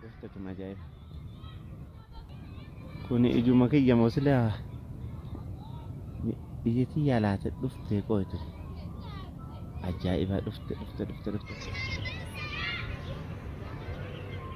Gooftatuma ajaa'iba. Kuni ijuma kiyya moo sila biyya tiyyaa laate dhufte qoytu. Ajaa'iba dhufte dhufte dhufte dhufte.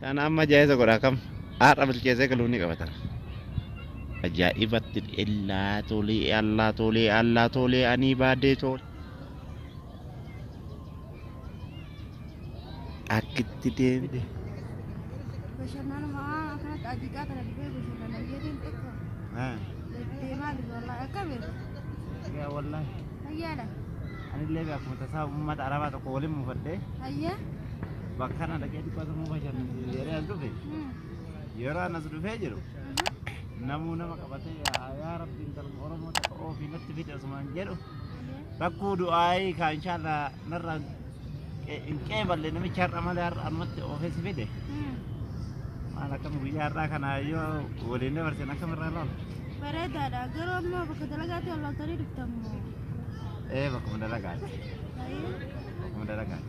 Kana amma jaayisa godha kam har'a bilcheessee galuu ni qabata. Ajaa'ibatti illaa tolee allaa tolee allaa tolee anii baadee tolee. Akkitti deemte. Bashannanuma akkanatti ajiqaa kana dhibee bashannana jedheen tokko deemaa jirra wallaahi akka beeku Yaa wallahi fayyaadha anillee akkuma tasaa uummata arabaa tokko waliin muufadhee fayyaa Bakkaan dhaqee dhibba tokkoo fi shan yeroo as dhufe yeroo anas dhufee jiru namuu nama qabatee yaa yaa rabbi intala oromoo takka oofii natti fide osumaan jedhu rakkoo du'aayii kaa inshaallah narraa qe- hin qeeballe namichi har'a malee har'a ammatti oofee si fide maal akkam guyyaa har'aa kana yoo waliin dabarsin akkam irraa lool Bareedaadha. Garuu ammoo bakka dalagaatti ol loltanii dhuftan moo? ee bakkuma dalagaati Baay'ee. bakkuma dalagaati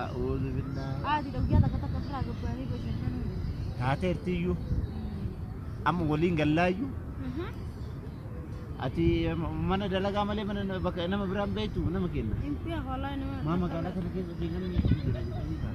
A'uudhu billaa. Taateertiyyuu amma waliin gallaayyu ati mana dalagaa malee mana bakka nama biraan beektu nama kenna. Maa magaalaa kana keessa deemanii jira jedhanii ta'a.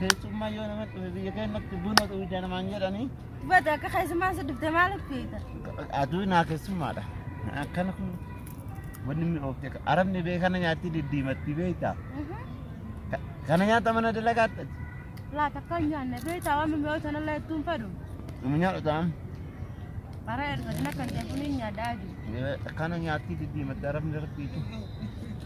Keessummaa yoo nama dhufe biyya keenyatti buna dhuguja namaan jedhanii. Bata akka keessummaan si dhufte maal feeta? Aduu naa keessummaadha. Akkana kun wanni mi'oofte arabni bee kana nyaatti diddiimatti beekta. Kana nyaata mana dalagaatti. Laata akka hin nyaanne feeta waan mi'oota nallee ittuun fedhu. Nama nyaadhu ta'an. Bara erga dina kan jedhu ni nyaadhaa jiru. Kana nyaatti diddiimatti arabni rabbiitu.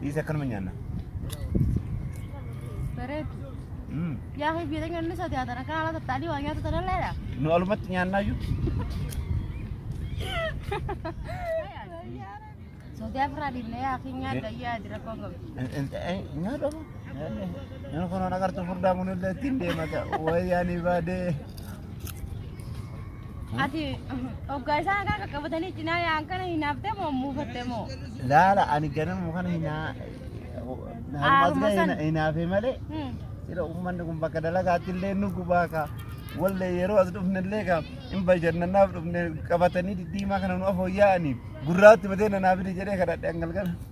Dhiisi akkanuma nyaanna. Bareedu. Mm. Yaa fi biyya keenya inni sodaa tana kan haala tattaanii waa nyaata tana leera. Nu alumatti nyaannaa iyyuu. Sodaa biraa dhiibnee yaa fi nyaadha yaa jira koon qabu. Nyaadha moo? Inni kun waan agartuu furdaa kun illee ittiin deemata. Wayyaanii baadee. Ati oggaa isaan akka qaqqabatanii cinaa yaa'an kana hinaaftee moo muufattee moo? Laala ani ganama kana hinaa Haaruma harmaas sana. ga'e hinaafee malee Hmm. sira uummanni kun bakka dalagaatti illee nu gubaa kaa wallee yeroo as dhufne illee kaa hin bashannanaaf dhufne qabatanii diddiimaa kana nu afooyya'anii gurraatti batee nanaafide jedhee kadhadhe hangalgala.